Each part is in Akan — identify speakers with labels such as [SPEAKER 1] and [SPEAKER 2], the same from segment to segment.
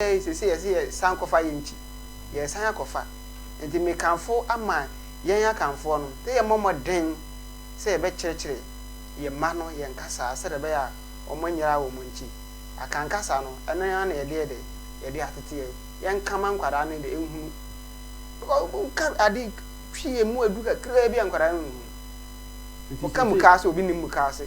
[SPEAKER 1] Ɛɛ, seesei ɛsɛ yɛsan kɔfa yɛn ti. Yɛresan akɔfa. Enti mekamfo ama yɛn Akanfoɔ no sɛ yɛmmɔ mmɔden sɛ yɛbɛkyerɛkyerɛ yɛn mma no yɛn kasa sɛdeɛ ɛbɛyɛ a wɔanyera wɔn nti. Akan kasa no, ɛno ara na yɛde yɛ dɛ, yɛde ateteɛ. Yɛnka ma nkwadaa no de nhunu. Because woka ade twi ɛmu aduru kakraa bi a nkwadaa no nhunu. Woka mukaase a obi nnim mukaase.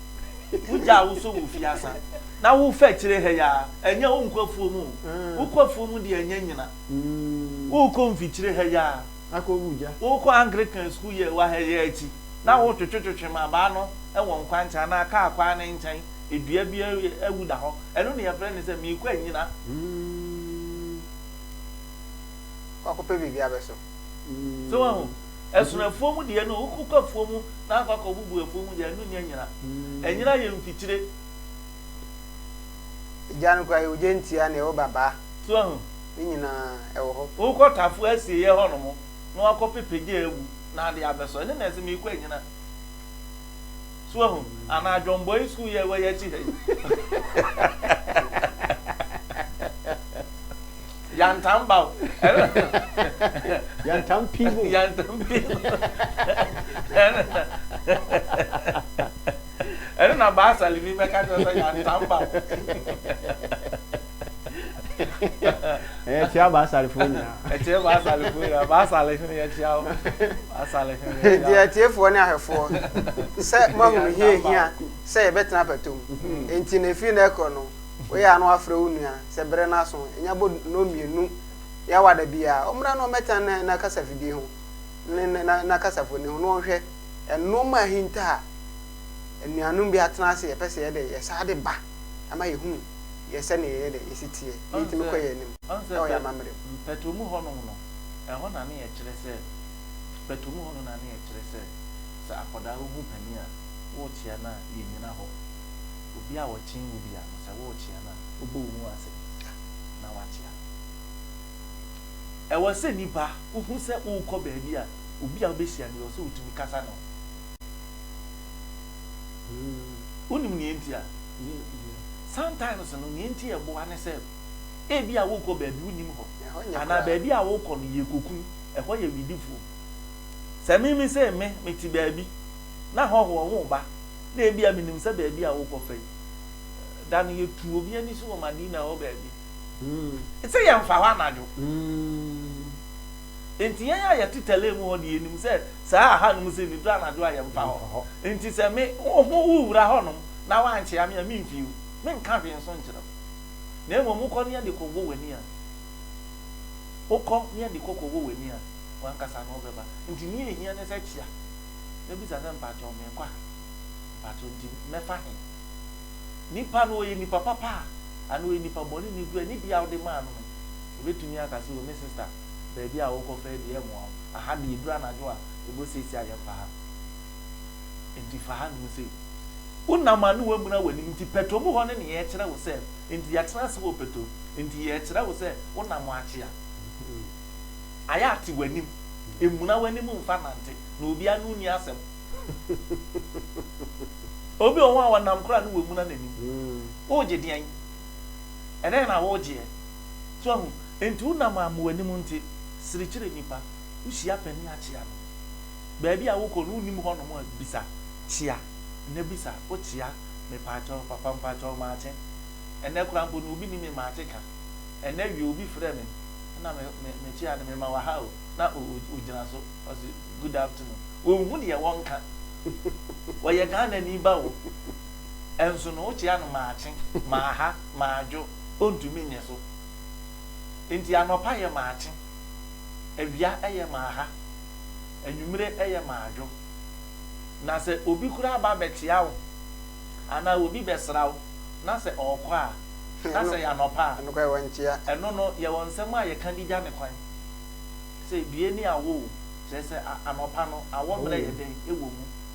[SPEAKER 2] Wogyaa wo so wo fie asa na wofa akyire ha yi ara, ɛnyɛ wonkɔ afuom o, wokɔ afuom deɛ ɛnyɛ nyina, worekɔ mfikyire ha yi ara, worekɔ
[SPEAKER 3] Anglican
[SPEAKER 2] sukuu yi a ɛwɔ ha yi ara akyi na wotwetwetwetwe mmabaa no wɔ nkwankyɛn anaa kaa kwan no nkyɛn, dua bi awu da hɔ, ɛno na yɛfrɛ no sɛ merekɔ anyina.
[SPEAKER 1] Kɔ akɔpɛ biribi abɛso. So woahu?
[SPEAKER 2] Ɛsono afuo mu deɛ no, wokɔ afuo mu na akɔ akɔ bubu afuo mu deɛ, ɛno nyɛ nyina. Ɛnyina yɛ mfikyire.
[SPEAKER 1] Egya no koraa, ogya ntia na ɛwɔ babaa. So ahu? Ne
[SPEAKER 2] nyinaa,
[SPEAKER 1] ɛwɔ hɔ. Wokɔ tafoɔ asieɛ
[SPEAKER 2] hɔnom na wakɔ pepe gya awu na ade abɛsɔ. Ɛno na ɛse meekɔ anyina. So wahu? Anaa John Boy School yi a ɛwɔ yɛn akyi ha yi. Yantam ba o.
[SPEAKER 3] Yantam pii mu. Yantam pii mu.
[SPEAKER 2] Ɛno na baasa limi mɛka kyerɛ sɛ yantam ba o.
[SPEAKER 3] Ɛyɛ kyia Baasalfoɔ nyinaa. Ɛkyia Baasalfoɔ
[SPEAKER 2] nyinaa. Baasal hene yɛkyia wo. Baasal hene yɛkyia wo. Enti atiefoɔ ne
[SPEAKER 1] ahwɛfoɔ, sɛ moahunu hia ɛhia sɛ yɛbɛtena pɛtom nti no, ɛfiri nnɛ rekorɔ no, woyɛ a na woafrɛ wo nua, sɛ berɛ no aso, ɛnya bɔ nnɔnmienu yɛ awa da biara, ɔmmra na ɔmmɛtena ne na kasafidie ho, ne ne na na kasafoni ho na ɔnhwɛ nnoɔma a ahinta a anuanom bi atena ase yɛpɛ sɛ yɛde yɛ saa de ba. ama yɛhunu yɛ sɛdeɛ yɛyɛ dɛ yɛsi teɛ na yɛtumi kɔ yɛn anim wɔ yɛn amammerɛ mu. Mpɛtɔ mu hɔ nom
[SPEAKER 2] no, ɛhɔ na ne yɛkyerɛ sɛ, pɛtɔ mu hɔ no na ne yɛkyerɛ sɛ, sɛ akwadaa wo hu panin a, worekyea no a, yɛnnyina hɔ. Obi a ɔkyen wo bia no, sɛ worekyea no a, wobɔ wo mu ase na woakyea no. Ɛwɔ sɛ nipa, wohu sɛ worekɔ baabi a, obi a wobɛhyia no, yɛwɔ sɛ wotumi kasa ne ho. Wonim nea enti a? Sometimes no, nea enti a ɛboa ne sɛ, ebia worekɔ baabi wonnim hɔ, anaa baabi a worekɔ no yɛ koku, ɛhɔ yɛ wedifoɔ. Sɛ me me sei me mete baabi na hɔhoɔ ho reba, na ebia menim sɛ baabi a worekɔfa yi, da no yɛtu obi ani so wɔ Madina hɔ baabi, sɛ yɛmfa hɔ anadwo. Enti yɛn a yɛte tɛlɛɛ mu hɔ no, yɛnim sɛ saa a hanom sɛ nniduro anadwo a yɛmfa hɔ. Enti sɛ me, wo ho wowura hɔnom na woankyea me a, memfi wo. Menka hwee nso nkyerɛ wo. Na mmom wokɔ ne ade kɔwɔ w'ani a, wokɔ ne ade kɔ kɔwɔ w'ani a, w'ankasa na wobɛba. Enti nea ɛhia ne sɛ kyea na bisa sɛ, Mpakyɛw, merekɔ ha. Mpakyɛw, enti mɛfa he? Nipa no, ɔyɛ nipa papa a, anaa ɔyɛ nipa bɔne? Nniduro a nni bia wode maa no no. Ebetumi aka sɛ, O me sista, baabi a worekɔfa yi deɛ ɛremmoa wo. Aha deɛ ɛduru anadwo a, ɛbɔ seesei a yɛmfa ha. Enti fa hanom sei. Wonam a ne woamuna w'anim nti pɛtro mu hɔ no na yɛrekyerɛ wo sɛ, enti yɛatena ase wɔ pɛtro nti yɛrekyerɛ wo sɛ wonam akye a, ayɛ ate w'anim. Mmuna w'anim mfa nnante, na obiara ne wo nni asɛm. Obi wɔ hɔ a ɔnam koraa na wamuna n'anim. Woregye deɛn? Ɛdɛn na woregyeɛ? So ahu? Enti wonam a mmoanim nte, sere kyerɛ nnipa, wuhyia panin a kyea no. Baabi a wokɔ no wunnim hɔnom a bisa, kyea, ɛnɛ bisa, wo kyea, mepaakyɛw, papa mpaakyɛw maakye, ɛnɛ koraa mpo no obi nni me maakye ka, ɛnɛ awia obi frɛ me na me, me, me kyea no mema wɔ ha o, na o, o, ogyina so, ɔse good afternoon. Wonhu deɛ wɔnka. Ɔyɛ Ghanani ba o, ɛnso no wokyea no maakye, maaha, maadwo. ontumi nyɛ so. Enti anɔpa yɛ maakye, awia yɛ maaha, anwummere yɛ maadwo. Na sɛ obi koraa ba bɛkyea wo anaa obi bɛsra wo na sɛ ɔrekɔ a, na sɛ ɛyɛ anɔpa a, ɛno no yɛwɔ
[SPEAKER 1] nsɛm
[SPEAKER 2] a yɛka de gya no kwan sɛ, Due ne awɔ o, kyerɛ sɛ anɔpa no awɔ mmerɛ yɛ dɛn wɔ mu.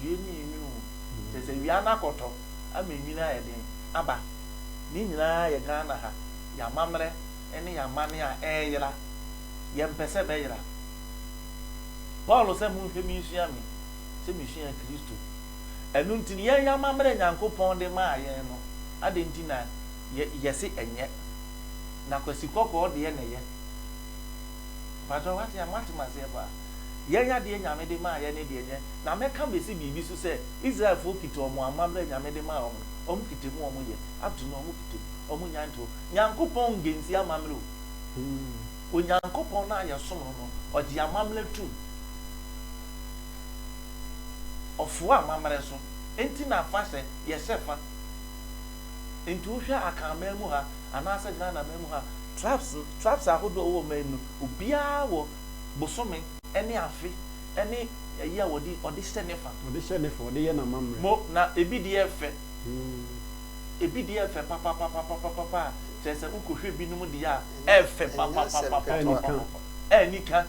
[SPEAKER 2] dua no yɛ nwunu o, kyerɛ sɛ awia no akɔtɔ ama nwunu ayɛ den aba. Ne nyinaa yɛ Ghana ha yɛn amammerɛ ne yɛn amanne a ɛreyera. Yɛmpɛ sɛ ɛbɛyera. Paul sɛ monhwɛ me nsua me sɛ mesua Kristo. Ɛno nti no yɛn yɛn amammerɛ a Nyankopɔn de maa yɛn no adɛn nti na yɛse ɛnyɛ? Na kwasikɔkɔɔ deɛ na ɛyɛ. Mpakyɛw wate a moate maseɛ paa yɛn adeɛ nyame de maa yɛn ne deɛ nyɛ na mɛka bɛsi biribi so sɛ Israel foɔ kita wɔn amammerɛ nyame de maa wɔn no wɔn kita mu wɔn yɛ up to now wɔn kita mu wɔn nya ntoɔ Nyankopɔn ngensi amammerɛ o hmm Onyankopɔn no a yɛsom no no ɔgye amammerɛ tum ɔfoa amammerɛ so enti na afahyɛ yɛhyɛ fa. Nti wohwɛ Akan man mu ha anaasɛ Ghana man mu ha, tribes tribes ahodoɔ a ɛwɔ man mu no, obiara wɔ bosome ne afe ne ayi a wɔde ɔde hyɛ ne fa. Ɔde hyɛ ne fa, ɔde yɛ
[SPEAKER 3] n'amammerɛ. Mo, na ebi deɛ yɛ
[SPEAKER 2] fɛ. Ebi deɛ yɛ fɛ papapapapapapa a, kyerɛ sɛ wokɔhwɛ binom deɛ a, ɛyɛ fɛ papapapapapapapa. Ɛyɛ anika.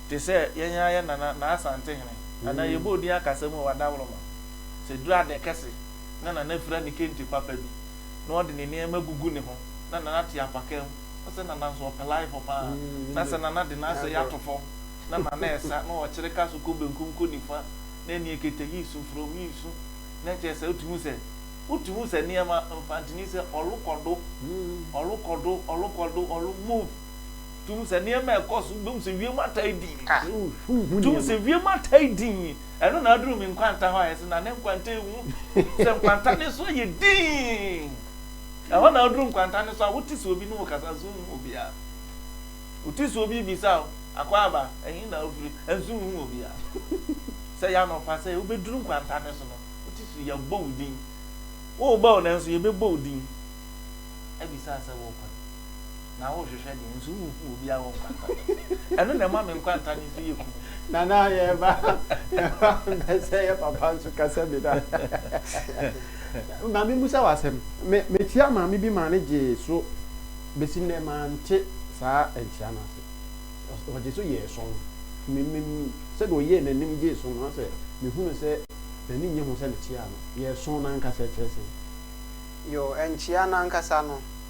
[SPEAKER 2] Te sɛ yɛn ara yɛn nana, Naa Asantehene, anaa yɛbɔɔ din akasa mu wɔ Adaworoma, sɛ ɛduru Adɛkɛse, na Nana afira ne kente papa bi, na ɔde ne nneɛma agugu ne ho, na Nana te apakaa mu. Wohu sɛ Nana nso ɔpɛ life pa ara. Na sɛ Nana de n'asɛe ato fam, na Nana resa, na ɔkyere ka so kɔ benkum kɔ nifa, na ɛnne akita yi su from yi su, na kyerɛ sɛ wotumi hu sɛ, wotumi hu sɛ nneɛma, Mfantini sɛ ɔlo kɔ do, ɔlo kɔ do, ɔlo kɔ do, ɔlo move. Wotumi hu sɛ nneɛma a ɛkɔ so, wobɛhu sɛ wiem ataa dinn. Wotumi hu sɛ wiem ataa dinn. Ɛno na aduru me nkwanta hɔ a yɛse na ne nkwanta ewu. Sɛ nkwanta no so yɛ dinn, ɛhɔ na aduru nkwanta no so a wote sɛ obi ne wo kasa nso wonhu obiara. Wote sɛ obi rebisa wo, Akwaaba, ɛhe na wofiri? Nso wonhu obiara. Sɛ ɛyɛ anɔpa sɛ wobɛduru nkwanta no so no, wote sɛ yɛabɔ wo din. Worebɔ wo nanso yɛbɛbɔ wo din abisa sɛ worekɔ he. na wohwehwɛ deɛ nso wonhu obiara wɔ nkwanta no ɛno na ɛma me nkwanta no nso yɛ kunu nana yɛba yɛba
[SPEAKER 3] bɛsɛ yɛ papa nso kasa bi da maame musa wasɛm me mekyia maame bi maa ne gyee so bɛsi nnɛ mante saa nkyia no ase ɔgye so yɛɛ sɔn memem sɛdeɛ ɔyɛɛ n'anim gyee so no asɛ mehunu sɛ n'ani nye ho sɛ mekyiaa no yɛɛ sɔn no ankasa kyerɛ sɛ yo
[SPEAKER 1] nkyia no ankasa no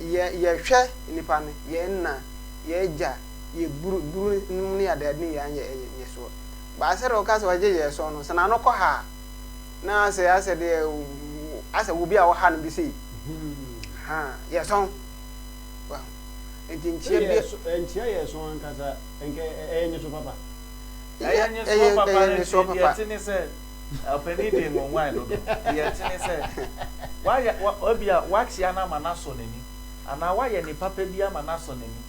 [SPEAKER 1] yɛ yɛhwɛ nnipa no, yɛn nna, yɛn agya, yɛ buru buru nom ne ade ade ne yɛ anyɛ ɛyɛ nyɛ soɔ. Baa sɛ deɛ ɔka sɛ ɔgye yɛ soɔ no, sɛ n'ano kɔ ha a, na asɛ asɛ deɛ asɛ obi a ɔha no bi sei. Ha, yɛ sɔn. Wahu? Nti nkyia bi.
[SPEAKER 3] Nkyia yɛ
[SPEAKER 2] sɔn ankasa, nkɛ ɛyɛ nyɛ so papa. Ɛyɛ nyɛ soɔ papa ne nti deɛ ɛte ne sɛ. Ɔpanin de ngonguan dodo. Deɛ ɛte ne sɛ, wayɛ, ebia wakyea no ama no asɔ n'ani, anaa wayɛ no papa bi ama no asɔ n'ani.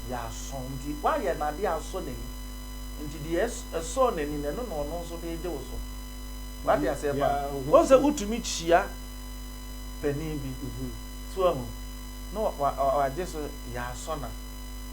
[SPEAKER 2] Yɛasɔ nti, wayɛ no adeɛ a asɔ n'ani. Nti deɛ ɛsɔɔ n'ani no, ɛno na ɔno nso de regye wo so. Wate aseɛ paa? Wohu sɛ wotumi kyia panin bi, so wahu, na wagye so, yɛasɔ no a.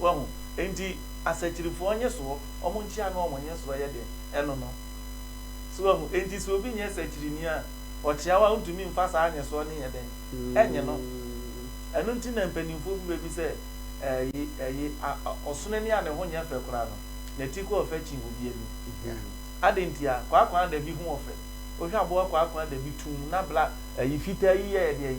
[SPEAKER 2] Wahu? Enti, asakyirifoɔ nyesoɔ, wɔn nkyea ne wɔn nyesoɔ yɛ den, ɛno no. So wahu? Enti sɛ obi nyɛ sakyirini a, ɔkyea wo a, wontumi mfa saa nyesoɔ no nyɛ dɛn? Ɛnye no. Ɛno nti na mpanimfoɔ bi bɛbi sɛ, Ɛɛ, ɛyi, a, a, ɔsono ani a ne ho nyɛ fɛ koraa no, n'ati kɔ ɔfɛ kyen obi ani. Adɛn ntia? Kwaakwaadabi ho ɔfɛ. Wohwɛ aboa kwaakwaadabi tumm, na bla, ɛyi, fitaa yi yɛɛ dɛn?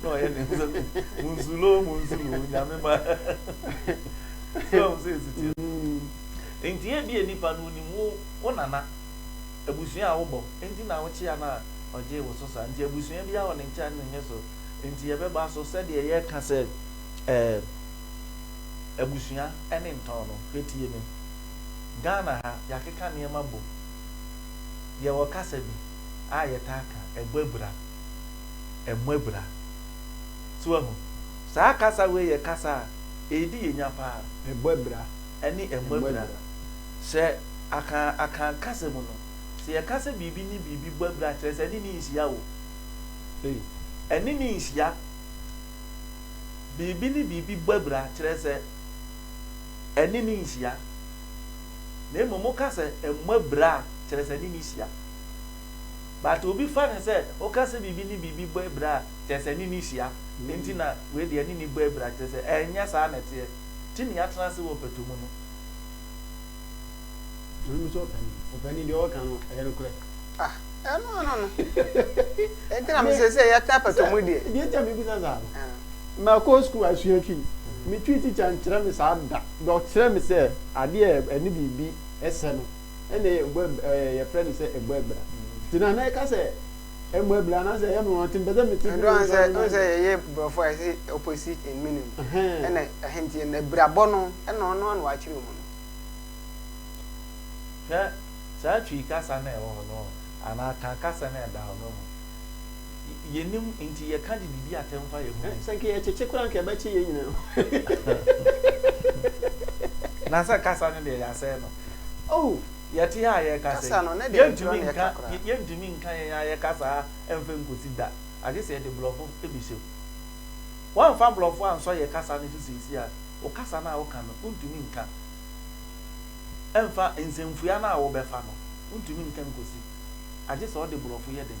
[SPEAKER 2] Na ɔyɛ ne nsa gu mu nsuro mu nsuro Nyame ma So wahu sɛ ɛsi teɛ no Enti ebia nnipa no ɔnim wo wo nana Abusua a wobɔ nti na wokyea no a ɔgyee wo so saa Nti abusua biara wɔ ne nkyea ne ne nnyɛso Nti yɛbɛba so sɛdeɛ yɛka sɛ ɛɛ Abusua ne ntɔn no Hwɛ tie me Ghana ha yɛakeka nneɛma bom Yɛwɔ kasa bi a yɛtaa ka Ɛbɔ abira ɛmmɔ abira. So wahu? Saa kasa wei yɛ kasa a ɛredi yɛn nya paa. Ɛbɔ abira.
[SPEAKER 3] Ɛne ɛmmɔ
[SPEAKER 2] abira. Sɛ aka aka kasa mu no, sɛ yɛka sɛ biribi ne biribi bɔ abira kyerɛ sɛ ɛne ne nhyia o. Ei. Ɛne ne nhyia. Biribi ne biribi bɔ abira kyerɛ sɛ ɛne ne nhyia. Na mmom woka sɛ ɛmmɔ abira a, kyerɛ sɛ ɛne ne hyia. but obi fa no sɛ woka sɛ biribi ne biribi bɔ abira a kyerɛ sɛ ɛne no hyia nti na wei deɛ ɛne no bɔ abira kyerɛ sɛ ɛnyɛ saa na ɛteɛ nti na yɛatena ase wɔ ɔpatu mu no.
[SPEAKER 3] Maame sɛ ɔpani ɔpani deɛ ɔka no ɛyɛ nokorɛ. Ah ɛno ano
[SPEAKER 1] no ɛnti na mesɛ sɛ yɛtena apatu mu deɛ. Deɛ nti a mebisa saa no ah.
[SPEAKER 3] makɔ sukuu asua twi me twi tikya nkyerɛ me saa da but ɔkyerɛ me sɛ adeɛ ɛne biribi sɛ no. ɛna ɛyɛ mbɔ ɛb ɛɛ yɛfrɛ no sɛ mbɔ ɛbra nti na na ɛka sɛ mbɔ ɛbra anaasɛ ɛyɛ nwanwa nti mpɛ sɛ mete bi wɔ nsɔre no mu. Ɛnde sɛ yɛyɛ
[SPEAKER 1] borɔfo a yɛsi opposite and meaning ɛna ɛhɛ nti ɛna ɛbrabɔ no ɛna ɔno ara na wakyerɛ mu no.
[SPEAKER 2] Hwɛ saa Twi kasa no a ɛwɔ hɔ no anaa Kan kasa no a ɛda hɔ no ɔho. Yɛnim nti yɛka de didi atɛm fa yɛn ho mu. Sɛ nka yɛkyekye koraa nka
[SPEAKER 3] ɛbɛkye yɛn nyinaa.
[SPEAKER 2] Na sɛ kasa no deɛ yɛasɛe no. Oh,
[SPEAKER 1] yɛte ha a
[SPEAKER 2] yɛreka sɛ. Kasa no, na ɛdeɛ ɛnkyerɛ na ɛka
[SPEAKER 1] koraa. Yɛntumi
[SPEAKER 2] nka yɛn ara yɛn kasa mfa nkɔsi da, agye sɛ yɛde Borɔfo bɛhyɛ mu. Woamfa Borɔfo ansɔ yɛn kasa no so seesei a, wo kasa no a woka no, wontumi nka mfa nsɛmfua no a wobɛfa no, wontumi nka nkɔsi, agye sɛ wode Borɔfo yɛ dɛn?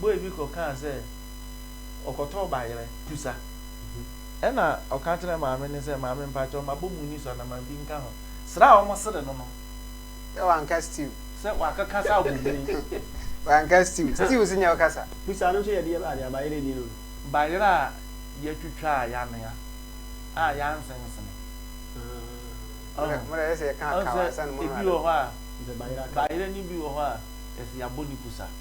[SPEAKER 2] boy bi kɔ kaa sɛ ɔkɔtɔɔ bayerɛ tusa ɛna ɔka kyerɛ maame no sɛ maame mpakyɛw mabɔ mu ni so ana ma bi nka ho sra a ɔmo sere no no sɛ wanka
[SPEAKER 1] stew sɛ wakeka sɛ
[SPEAKER 2] abɔ mu ni wanka
[SPEAKER 1] stew stew so nyɛ ɔkasa. Tusa no nso yɛ deɛ bɛn
[SPEAKER 3] a bayerɛ ni no no. Bayerɛ a
[SPEAKER 2] yɛtwitwa a yanoa a yansensene ɔho ɔho sɛ ebi
[SPEAKER 1] wɔ hɔ
[SPEAKER 2] a bayerɛ
[SPEAKER 3] no bi
[SPEAKER 2] wɔ hɔ a yɛse yabɔ ne kusa.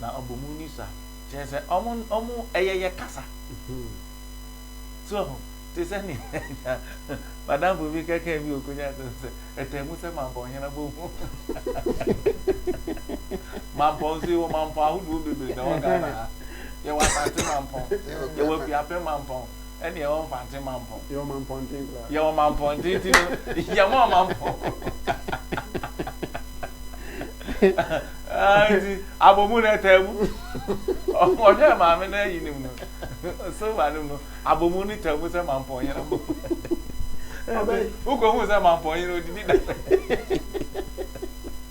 [SPEAKER 2] na ɔbɔ mu ni sa kyerɛ sɛ ɔmo ɔmo ɛyɛ yɛ kasa so ho te sɛ ne ɛnya madamfo bi kɛkɛ bi okonya sɛ sɛ ɛtɛ mu sɛ mampɔ ɔhɛn abɔ mu mampɔ nso yɛ wɔ mampɔ ahodoɔ bebree na wɔ Ghana ha yɛ wɔ asante mampɔ yɛ wɔ afiapɛ mampɔ Ɛne ɛwɔ mfante mampɔn. Yɛwɔ mampɔnten
[SPEAKER 3] koraa. Yɛwɔ mampɔnten ti
[SPEAKER 2] no yɛmɔ mampɔn. Nti abomu na ɛtaa mu. Ɔhwɛ maame na ayi nim no. So ma nim no abomu ne taa mu sɛ mampɔn yɛn abomu. Wokɔ hu sɛ mampɔn yɛn odidi da.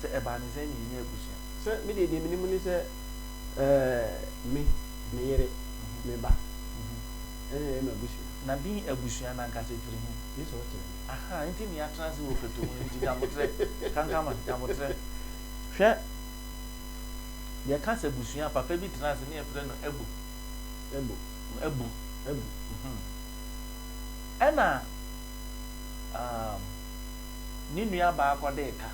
[SPEAKER 2] Sɛ ɛbaa no sɛ na yɛnyɛ abusua. Sɛ me deɛ deɛ menim
[SPEAKER 3] ne sɛ eh, me, me yere, me ba ɛna ɛyɛ m'abusua. Na din abusua
[SPEAKER 2] no ankasa firi he? Gye sɛ wokyerɛ me.
[SPEAKER 3] Ahaa, nti na
[SPEAKER 2] yɛatra ase wɔ Fatowu no nti Nyaboterɛ, Kankama, Nyaboterɛ. Hwɛ, yɛka sɛ abusua a, papa bi tena ase ne yɛfrɛ no Abu. Abu. Abu. Abu. Ɛna, um. Ne nuabaa kɔdee ka.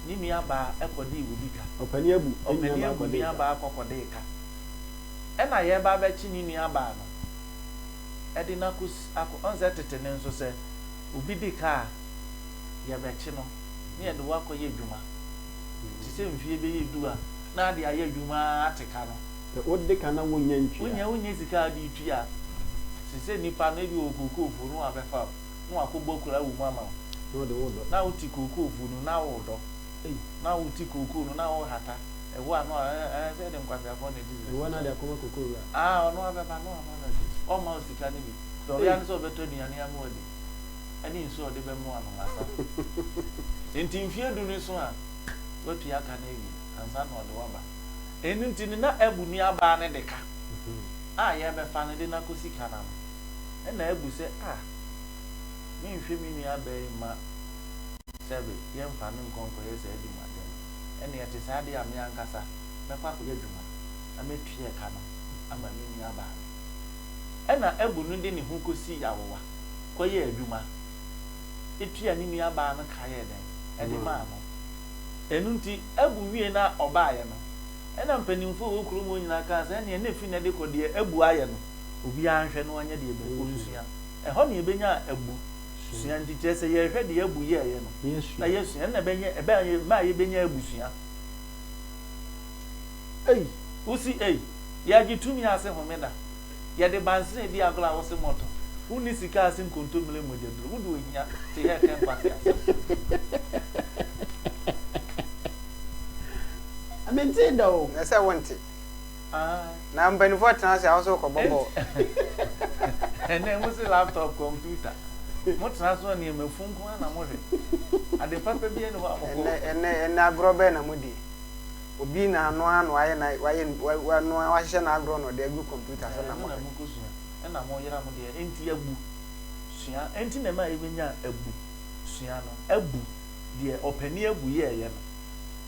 [SPEAKER 2] Ne nuabaa kɔdee obi ka. Ɔpanin abu ne nuabaa
[SPEAKER 3] kɔdee ka. Ɔpanin abu nuabaa
[SPEAKER 2] kɔ kɔdee ka. Ɛna yɛɛba abɛkye ne nuabaa no, ɛde no akɔ si akɔ wɔn sɛ tete no nso sɛ obi di ka a, yɛbɛkye no na yɛde wo akɔ yɛ adwuma. Te sɛ mfie bɛyɛ du a na ade ayɛ adwuma ara ate ka no. Sɛ wode ka na
[SPEAKER 3] wonnya ntua. Wonnya wonnya sika a wode
[SPEAKER 2] tua. Te sɛ nnipa no ebi wɔ kokoofo no wabɛfa wo. na wakɔbɔ kura wo mu ama wo. Na ɔde wo dɔ. Na
[SPEAKER 3] wote kookoo fu
[SPEAKER 2] no, na wodɔ. Ei. Na wote kookoo no, na wohata. Ɛhɔ a, na wa, eh, eh, sɛ yɛde nkwaseafoɔ na ɛdi Jesus. Ɛhɔ a, na ade akɔma kookoo wura.
[SPEAKER 3] Ah, ɔno ara bɛba, na
[SPEAKER 2] wama no adi. Ɔmma wo sika no bi. Deɛ ɔwɛ ara ne sɛ ɔbɛtɔ aduane ama wo adi, ɛne nsuo a ɔde bɛmo anom asa. Enti mfeɛ du no eso a, watua ka no awie, ansa na ɔde wo aba. Ɛno nti no, na abu nuabaa no de ka a yɛrebɛfa no de no akɔsi ka no ano. ɛna abu sɛ ah menhwɛ me nua bɛɛ mma sɛbe yɛmfa no nkɔ nkɔyɛ saa adwuma no ɛne ɛte saa deɛ a me ankasa mɛkɔ akɔyɛ adwuma na matua ɛka no ama me nua baa no ɛna abu no de ne ho kɔsii awowa kɔyɛɛ adwuma ɛtua ne nua baa no ka yɛɛ dɛn ɛde maa no ɛno nti abu wie na ɔbaeɛ no ɛna mpanimfoɔ wɔ kurom hɔ nyinaa kaa sɛ ɛneɛ na ɛfiri na ɛde kɔ deɛ abu ayɛ no Obiara nhwɛ na ɔnyɛ deɛ abu ɔnsua. Ɛhɔ na yɛbɛnyaa abu sua nti kyerɛ sɛ yɛrehwɛ deɛ abu yɛeɛ no na yɛasua ɛno na ɛbɛnyɛ ɛbɛma yɛbɛnya abusua. Ei wo se ei yɛagye tumi ase homeda yɛde bansene di agorɔ a wo se mɔtɔ wonni sika ase nkontommire mmogyaduro wode ohia te hɛ kɛ nkwaseasɛm.
[SPEAKER 3] Mentee da o. Ɛsɛ sɛ wonte.
[SPEAKER 1] Na mpaninfoɔ tena ase a wo so rekɔbɔ bɔɔl.
[SPEAKER 2] Ɛnɛ mo se laptop kɔmputa. Mo tena so nneɛma funu nko ara na mo hwɛ. Ade papa biara nni hɔ a mo kɔ. Ɛnɛ ɛnɛ ɛnɛ agorɔ
[SPEAKER 1] bɛn na mo di? Obi na ano ano ayɛ na wayɛ wanoa wahyehyɛ na agorɔ na ɔde agu kɔmputa so na mo hwɛ. Ɛno na mo kɔ sua. Ɛna mo
[SPEAKER 2] yera mo deɛ ɛnti abu sua ɛnti na ɛma yɛbɛ nya abu sua no abu deɛ ɔpani abu yɛɛyɛ no.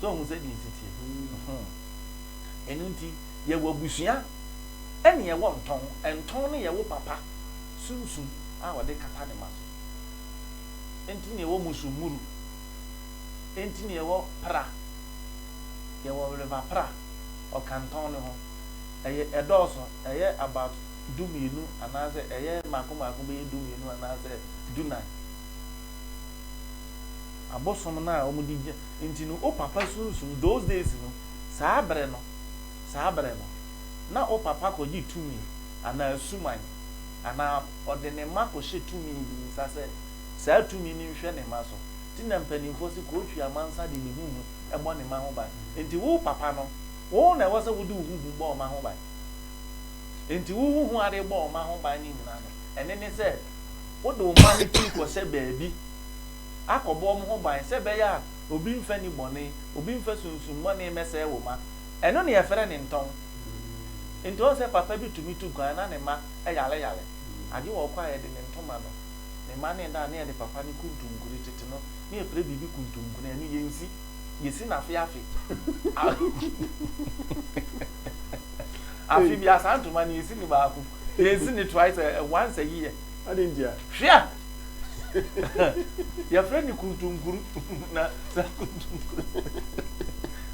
[SPEAKER 2] So wohu sɛdeɛ ɛsi teɛ? Hmm. Ɛno nti, yɛwɔ abusua ɛne yɛwɔ ntɔn. Ntɔn no yɛ wo papa sunsum a ɔde kata ne ma so. Ɛnti ne yɛwɔ musummuru. Ɛnti ne yɛwɔ pra. Yɛwɔ wereva pra. Ɔka ntɔn no ho. Ɛyɛ ɛdɔɔso. Ɛyɛ about du mmienu anaasɛ ɛyɛ mmaako mmaako bɛyɛ du mmienu anaasɛ du nan. abosom no a wɔn de gye nti no wo papa sunsum those days no saa bere no saa bere no na wo papa kɔ gye tumi anaa suman anaa ɔde ne mma kɔ hyɛ tumi bi nsa sɛ saa tumi no nhwɛ ne mma so nti na mpaninfoɔ se kɔ twi amansa de ne ho hu bɔ ne mma ho ban nti wo papa no wo na ɛwɔ sɛ wode wo ho hu bɔ ɔma ho ban nti wo ho hu ade bɔ ɔma ho ban ne nyina no ɛne ne sɛ wode wo mma no twi kɔ hyɛ baabi akɔbɔ wɔn ho ban sɛ ɛbɛyɛ a obi mfa nni bɔne, obi mfa sunsummɔne mmɛsɛe wo mma. Ɛno na yɛfrɛ no ntɔn. Enti woahu sɛ papa bi tumi tu kwan na ne mma yareyare, agye wɔ hɔ koraa a yɛde ne ntoma no, ne mma no reda a na yɛde papa no kuntunkuni tete no na yɛpira biribi kuntunkuni a ɛno yɛnsi, yɛsi no afe afe. Afe biara saa ntoma no yɛsi no baako, yɛnsi no twice, once a year. Adɛn ntia?
[SPEAKER 3] Hwɛ a
[SPEAKER 2] yɛfrɛ no kuntunkuru na saa kuntunkuru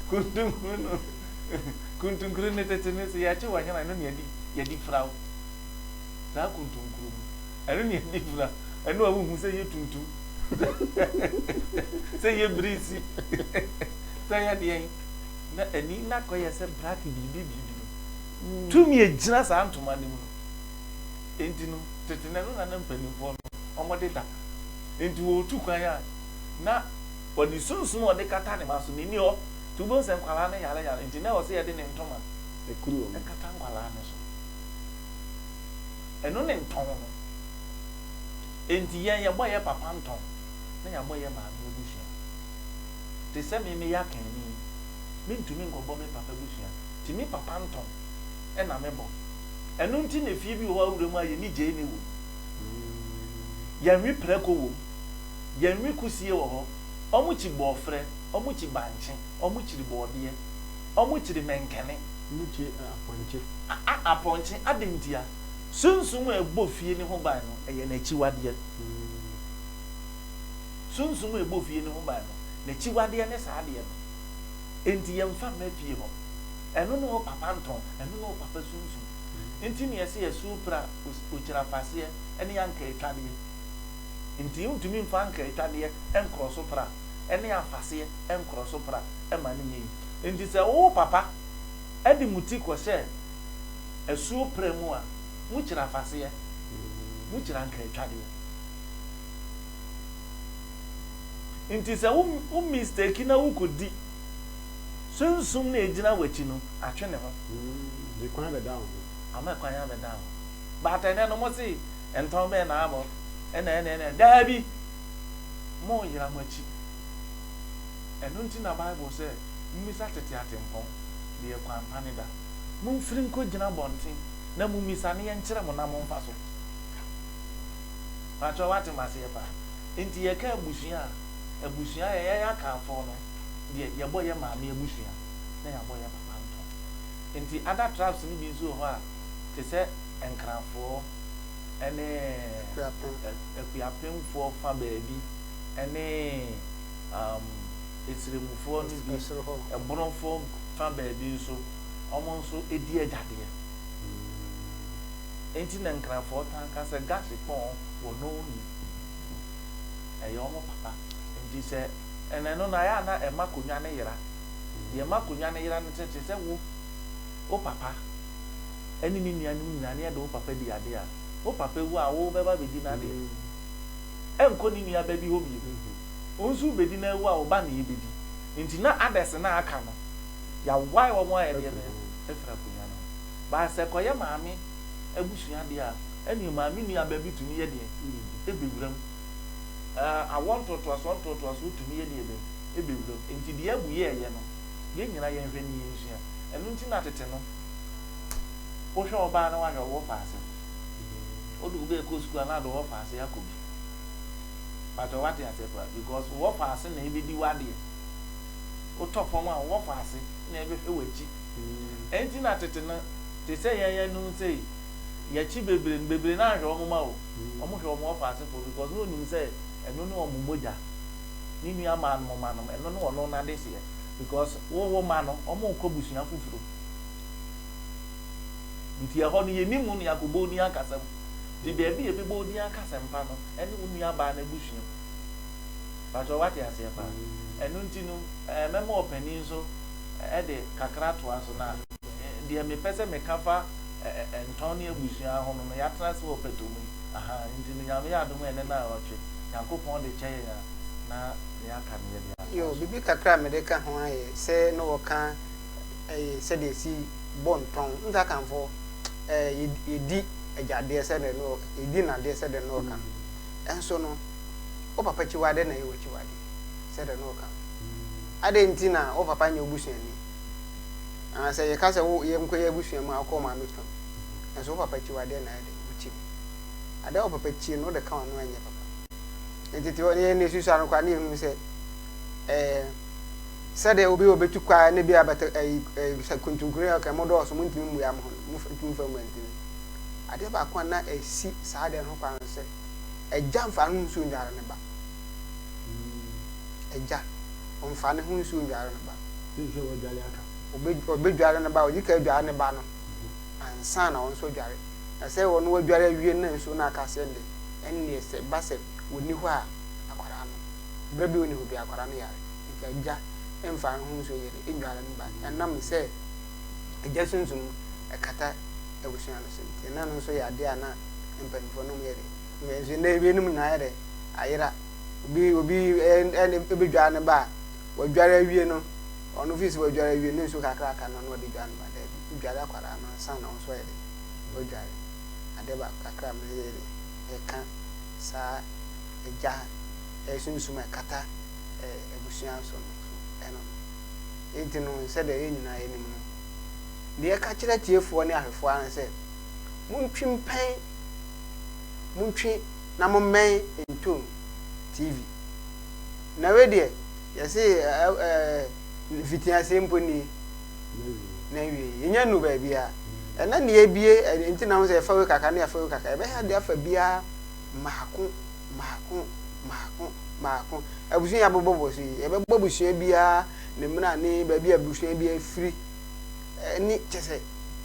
[SPEAKER 2] kuntunkuru no kuntunkuru no tete no sɛ yɛakye w'anyana ɛno ne yɛde yɛde fira wo saa kuntunkuru no ɛno ne yɛde fira ɛno a wohu sɛ yɛ tuntum sɛ yɛ birisi sɛ yɛ deɛ na ani na kɔyɛ sɛ black biribi biribi no tumi agyina saa ntoma no mu no Enti no, tete na ɛno na na mpanimfoɔ no wɔde da. Enti wɔretu kwan a, na ɔde sunsum a ɔde kata ne ma so no nni hɔ. Nti wobɛhu sɛ nkwadaa no yareyare nti na ɛwɔ sɛ yɛde ne ntoma kata
[SPEAKER 3] nkwadaa no so.
[SPEAKER 2] Ɛno ne ntɔn no. Enti yɛn yɛbɔ yɛn papa ntɔn na yɛabɔ yɛn maame abusua. Te sɛ me meyɛ akanni yi, mentumi nkɔbɔ me papa abusua nti me papa ntɔn na mebɔ. Ɛno nti na fie bi wɔ hɔ a wowura mu a yɛn nnyigyei nni wom. Yɛnwe prako wom. Yɛnwe kusie wɔ hɔ. Wɔkyi bɔɔfrɛ. Wɔkyi bankye. Wɔkyiri bɔɔdeɛ. Wɔkyiri mɛnkɛne. Wɔkyi
[SPEAKER 3] apɔnkye. A apɔnkye!
[SPEAKER 2] Adɛn ntia? Sunsum a ɛbɔ fie no ho ban no, ɛyɛ n'akyiwadeɛ. Sunsum a ɛbɔ fie no ho ban no, n'akyiwadeɛ ne saa adeɛ no. Enti yɛmfa mma fie hɔ. Ɛno ne wo papa ntɔn, ɛno ne wo papa sunsum. Nti ne yɛse yɛ soo pira okyira faseɛ ne anka atwadeɛ. Nti wontumi mfa anka atwadeɛ nkorɔ so pira ne afaseɛ nkorɔ so pira ma no nyɛ yie. Nti sɛ wo wo papa de mo ti kɔhyɛ asuo pira mu a, mo kyira afaseɛ, mo kyira anka atwadeɛ. Nti sɛ wo mistake na wo kɔdi. Sunsum no a egyina w'akyi no atwe ne ho. De kwan
[SPEAKER 3] abɛda wo ho. Ama kwan abɛda
[SPEAKER 2] wo ho. But ɛnɛ no mose ntɔn bɛn na abɔ ɛna ɛne ɛne daabi moyera mo akyi. Ɛno nti na bible sɛ momisa tete atempɔn deɛ kwan pa no da. Momfiri nkɔ gyina abɔnten na momisa na yɛnkyerɛ mo na momfa so. Pakyɛ wate maseɛ paa. Nti yɛka abusua a abusua yɛyɛ yɛaka afɔɔ no. deɛ yɛbɔ yɛ maame abusua na yɛabɔ yɛ papa nto. Nti other tribes no bi nso wɔ hɔ a te sɛ Nkranfoɔ ne Akuapemfoɔ fa baabi ne um, Esremufoɔ no bi, Ɛborofoɔ fa baabi nso, wɔn nso di agyadeɛ. Nti na Nkranfoɔ taa ka sɛ Gasikpɔn wɔ Noni. Ɛyɛ wɔn papa. Nti sɛ Ɛna ɛno na ɛyɛ a na ɛma konwa no yera. Deɛ ɛma konwa no yera ne sɛ, te sɛ wo, wo papa ne ne nuanom nyinaa ne ɛde wo papa di adeɛ a, wo papa wu a, wo bɛba abɛdi n'adeɛ. Ɛnkɔ ne nua ba bi hɔ bio. Wo nso wo bɛdi na awu a, wo ba na ɛbɛdi. Nti na others no a aka no, yɛawae wɔn ayɛ deɛ bɛn? Afira konwa no ho. But sɛ ɛkɔyɛ maame abusua deɛ a, ɛneɛ maame nua ba bi tumi yɛ deɛn? Ɛbɛwura mu. Ɛɛ, awoɔ ntoatoasoɔ ntoatoasoɔ tumi yɛ deɛ bɛn? Ɛbɛwura mu. Enti deɛ Abu yɛeɛ no, yɛn nyinaa yɛnhwɛ na yɛnsua. Ɛno nti na tete no, wohwɛ ɔbaa na woahwɛ ɔwɔ faase. Wode wo ba rekɔ sukuu a, na ade ɔwɔ faase akɔ bi. Mpakyɛ woate aseɛ koraa? Because ɔwɔ faase na ɛbɛdi w'adeɛ. Wotɔ fam a, ɔwɔ faase na ɛbɛhwɛ w'akyi. Ɛno nti na tete no, te sɛ yɛn ɛnnum sei, yɛkyi bebre no bebre no anhwɛ wɔn ma o wɔn hwɛ wɔn ɔfaasefoɔ because na onim sɛ ɛno ne wɔn mogya ne nua maa nom ma nom ɛno ne wɔn n'adeseɛ because wo wo ma no wɔn rekɔ busua foforo nti ɛhɔ no yɛni mu ne akɔbɔ odin akasɛm nti baabi yɛ bɛbɔ odin akasɛm pa no ɛne wo nua baa no abusua mu bàtò wate aseɛ paa ɛno nti no ɛɛ mɛma ɔpanin nso ɛde kakra toa so na. Deɛ mepɛ sɛ meka fa Ntɔn ne abusua ho no no, yɛatena ase wɔ ɔpɛtɔ mu yi, ahaa, nti no Nyame yɛ adom a ɛnnɛ naawɔtwe, Nyankopɔn de kyɛ yɛn a, na nea aka no yɛde atoa so. Biribi kakra a mede
[SPEAKER 1] ka ho ara yɛ sɛ na wɔka ɛyɛ sɛdeɛ yɛsi bɔ ntɔn, wohu sɛ Akanfoɔ ɛɛ yɛdi agya adeɛ sɛdeɛ na ɔka, yɛdi nnadeɛ sɛdeɛ na ɔka no, nso no wo papa akyiwadeɛ na ɛyɛ w'akyiwadeɛ sɛdeɛ na ɔka no, adɛn nti na wo papa nyɛ wo busuani? Ah, sɛ yɛka sɛ wo yɛnkɔ yɛ abusua mu a, wokɔ wo maame fam. Nanso wo papa tie wo adeɛ na ayɛ dɛ, wotie mu. Adeɛ a wo papa tie no, wode ka w'ano a ɛnyɛ papa. Enti te hɔ na yɛn susua no koraa na yɛhunu sɛ eh, sɛdeɛ obi a ɔbɛtu kwa ne bi a bɛtɛ ayi eh, sɛ kuntunkuni a ɔka mo dɔɔso, montumi mmua mo ho no, montumi mfa mmua ntumi. Adeɛ baako a na ɛsi saa adeɛ no ho kwan no sɛ agya mfa ano nsuo nnware ne ba. Agya, ɔmfa ne ho nsuo nnware ne ba.
[SPEAKER 3] Ɔbɛdware ne
[SPEAKER 1] ba, ɔdi kan dware ne ba no ansa na ɔno nso adware. Na sɛ ɔno adware awie na nsuo no aka aseɛ de, ɛnneɛ sɛ ɛba sɛ ɔnni hɔ a, akwadaa no, berɛ biara ɔnni hɔ biara akwadaa no yare. Nti agya mfa ne ho nsuo yere nnware ne ba. Ɛnam sɛ agya sunsum no kata abusua no so nti, na ɛno nso yɛ adeɛ a na mpanimfoɔ no wɔyɛ dɛ. Nso nnɛ ewienum nyinaa ayɛ dɛ ayera. Obi obi bedware ne ba a, wadware awie no, ɔno fi sɛ wadware awie no, ne nsuo kakra aka no na ɔde dware ne ba. Daabi, wodware akwadaa no ansa na wo nso ayɛ dɛ wadware. Adeɛ baako kakra a meyɛ de ɛka saa agya sunsum a ɛkata abusua so no so ɛno no. Enti no, sɛdeɛ yɛn nyinaa yɛnim no, deɛ ɛka kyerɛ atiefoɔ ne ahwɛfoɔ ara ne sɛ, montwi mpɛn montwe na mommɛn ntom TV. Na wei deɛ yɛse mfitiaseɛ mpo nie na awie yɛnya nu baabiara ɛna ne yɛbie ɛnti na ho sɛ yɛfa wei kakra ne yɛfa wei kakra ɛbɛyɛ de afa biara mmaako mmaako mmaako mmaako abusua yɛ abobɔbɔ so yi yɛbɛbɔ abusua biara ne mmara ne baabi abusua biara firi ɛne kyɛ sɛ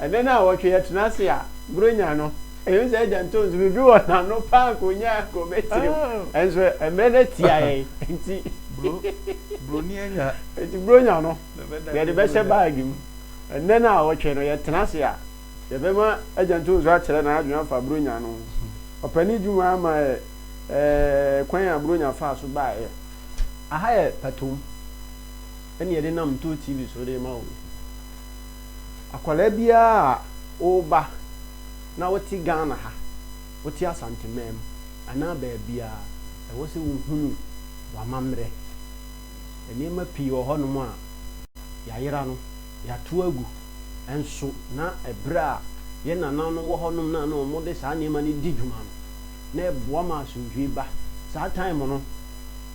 [SPEAKER 2] Ɛnnɛ nnawɔtwe
[SPEAKER 3] yɛtena ase a, Buronya no, ɛhu sɛ agya ntɔ nsu biribi wɔ n'ano paa anka ɔnya agu me tirim. Nanso mmerɛ no atia yɛn nti,
[SPEAKER 2] nti Buronya no
[SPEAKER 3] yɛde bɛhyɛ baage mu. Ɛnnɛ nnawɔtwe no yɛtena ase a, yɛbɛma agya ntɔ nsu akyerɛ n'adwene afa Buronya no ho. Ɔpɛ ne dwuma ama ɛ, ɛɛ, kwan a Buronya faa so baeɛ. Aha yɛ Patom. ɛne yɛde nam Ntoo TV so de ma wo yi. Akwadaa biara a woba na wote Ghana ha, wote Asanteman anaa baabiara, ɛwɔ sɛ wohunu w'amammerɛ. Nneɛma pii wɔ hɔnom a yɛayera no, yɛato agu nso na ɛberɛ a yɛn nananom wɔ hɔnom no a na wɔde saa nneɛma no di dwuma no, na ɛboa ma asomdwoeɛ ba. Saa time no.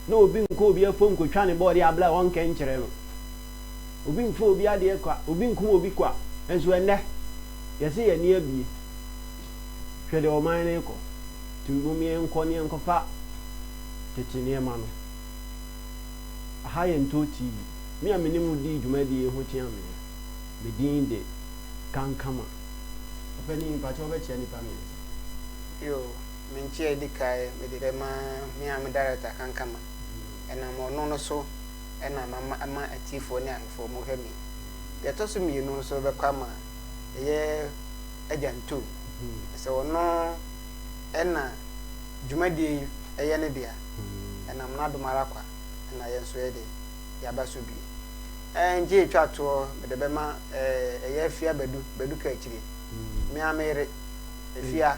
[SPEAKER 3] na obi nkɔ obi afɔm nkɔtwa ne bɔɔde a bla ɔnkɛ nkyerɛ no, obi mfa obi adeɛ kwa, obi nkum obi kwa, nso ɛnnɛ yɛse yɛn ani abue, hwɛ deɛ ɔman no rekɔ, nti mom yɛnkɔ na yɛnkɔfa tete nneɛma no, aha yɛ Ntoo TV, me a mene mo di dwumadie yi ho kyea me no, me din de Kankama. Ɔpanin, mpakyɛ wobɛkyea nnipa mmiɛnsa. Yoo. Me
[SPEAKER 1] nkyia edi kae mede bɛma me a me Director ka nkama. Ɛnam ɔno no so na mama ɛma atiefo ne ahefo ɔmo hwɛ me. Deɛ ɛtɔ so mmienu nso bɛkɔ ama ɛyɛ Agya Ntum. Ɛsɛ ɔno na dwumadie yi ɛyɛ ne dea. Ɛnam n'adom ara kwa na yɛn nso yɛde yaba so bi. Ɛngye etwa toɔ mede bɛma ɛyɛ Afia Badu, Badu Kakyire. Me ara me yere, Afia.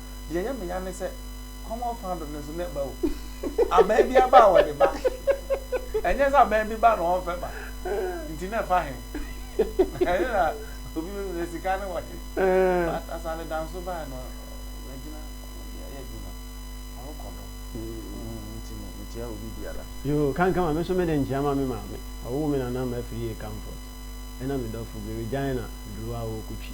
[SPEAKER 2] Deɛ ɛyɛ me ya ne sɛ common fandom no nso na ɛba o. Abaa bi aba a wɔde ba. Ɛnyɛ sɛ abaa bi ba na wɔmfɛ ba. Nti na ɛfa he? Ɛno na obi bɛbisa sɛ sika no wɔ he? But Asare Danso baeɛ no wagyina baabi ayɛ adwuma. Ɔrekɔ do. Nti no mekyia obi biara. Yoo, kanka ma me nso
[SPEAKER 3] mede nkyea ma me maame. Ɔwoo me nana Mafiri Akanfort ɛna me dɔfo bi Regina Duruwa Awokutwi.